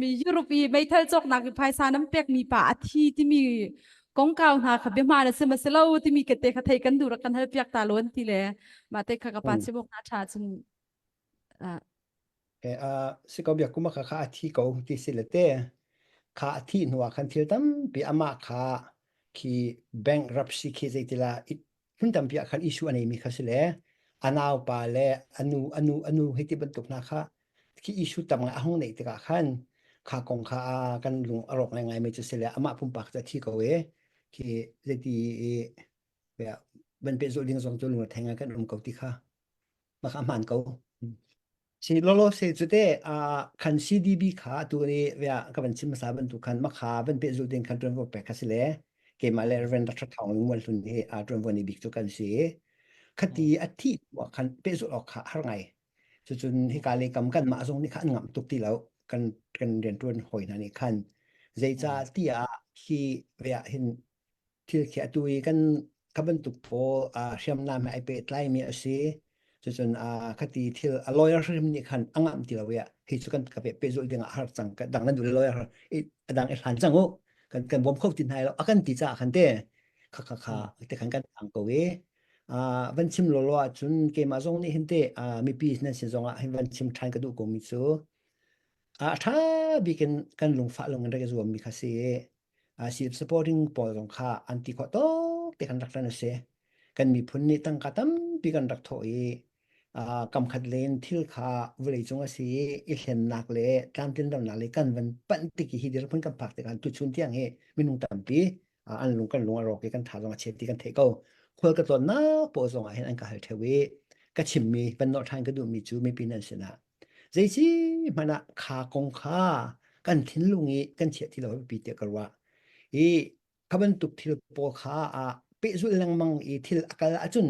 mi Europe i meithal cawknak i phaisa nan pekmi pa a thi timi kongkau hna kha biahma na sim asilo timi ka te kha thei kan duh kan hal piak ta lo an ti le ma te kha ka pa chimok na tha chung e a si ko bia kuma kha kha a thi ko ti si le te kha a thi hnuah khan thil tampi ama kha khi bankruptcy khi zeitila Hmun tampi ah khan Jesuh a neimi kha si le a naupa le a nu a nu a nu hi ti bantuk hna kha khi Jesuh tangah a hung neih tikah khan kha kong kha a kan lung a rawk ngaingai mi cu si le amah pumpak cu a thi ko i khi zeiti i banpehzawh ding zong cu lungrethei ngai kan um ko ti kha maka hman ko si lolo se cu te a kan CDB kha tu ni vea ka van sim sa ban tu khan makha ban pe zu den khan tuan vo pe kha sile keima le reven ra thong lungwal hlun hi a tuan vo ni bik chu kan si khati athi wa khan pe zu lo kha har ngai chu chun hi ka le kam kan ma zong ni khan ngam tuk ti lo kan kan den tuan hoi na ni khan zeica ti a hi vea hin thil khi atu i kan kha bantuk pawl ah hriamnam he ai pehtlaimi a si. Cucun ah khati thil a lawyer hrim nih khan a ngam ti lo i hi cu kan ka pehzulh ding ah har cang. Kan dang nan duh le lawyer i a dang i hlan cang u. Kan kan bawm kho ti hna lo. A kan ti caah khan te kha kha kha te khan kan ang ko i van chim lo lo ahcun keimah zong nih hin te mipi nan sin zong ah hin van chim ṭhan ka duh komi cu a ṭha bik in kan lungfah lung in rak i zuammi kha si. Sip supporting pawl zong kha an ti khawh tok te kan rak ran a si. Kan miphun nih tangka tampi kan rak thawh i kamkhat len thil kha vawlei cung a si i i hlennak le tlamtlin lonak le kan van panh tik i hi dirhmun kan phak tikhan tuchun tiang hi minung tampi an lung kan lung a rawk i kan tha zong a chep ti kan theih ko. Khual ka tlawnnak pawl zong ah hin an ka hal theo i ka chimmi van nawh ṭhan ka duhmi cu mipi nan sinah Zeici hmanh ah kha kong kha kan thinlung i kan chiah ti lo pipi tiah ka ruah. I kha bantuk thil pawl kha ah pehzulh lengmang i thil a kal ahcun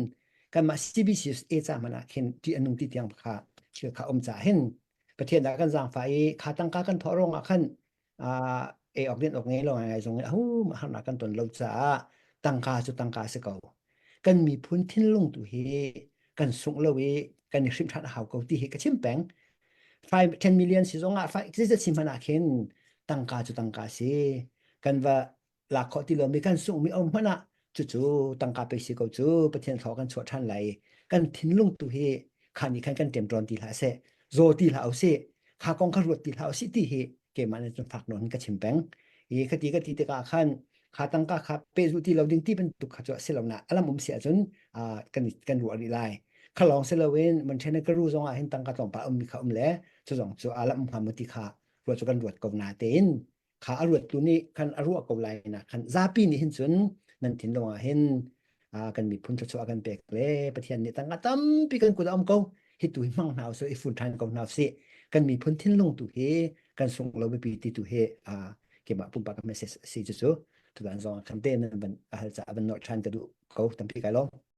kanmah CBCUS e ca hmanh ah khin ṭih a nung ti tiang kha thil kha um caah hin Pathian ah kan zaangfah i kha tangka kan thawh ruangah khan Ah, ei awk din awk ngei lo ngai zong in a hum harnak kan ton lo caah tangka cu tangka si ko. Kan miphun thinlung tu hi kan sungh lo i kan i hrimh ṭhan a hau ko ti hi ka chim peng. 5 10 million si zongah fa existed si hmanh ah khin tangka cu tangka si. Kan va lak kho ti lomi kan sungmi om hmanh ah cucu tangka pe si ko cu pathian thlo kan chuah than lai kan thinlung tu hi kha ni khan kan temtron ti hla se zo ti hla au si kha kong kha ruat ti hla au si ti hi keman an fak non ka chim peng i khati ka ti te ka khan kha tangka kha pe zu ti lo ding ti ban tuk kha chu selona alam um si achun kan kan ru ri lai khalong selawin man thene ka ru zonga hin tangka tlong pa um mi kha um le chu zong chu alam ham ti kha ro chu kan ruat ko na tein kha a ruat tu nih khan a ruah ko lai na khan zapi nih hin cun nan thin lawng ah hin kan miphun thluachuah a kan pek le pathian nih tangka tampi kan kut a om ko hi tu hi hmang hna usih i fun ṭhan ko hna usih kan miphun thinlung tu hi kan sung lo bipi ti tu hi kemah pumpak message a si cu cu tudan zong khan te nan ban a hal ca a ban nolh ṭhan ka duh ko tampi kai lawm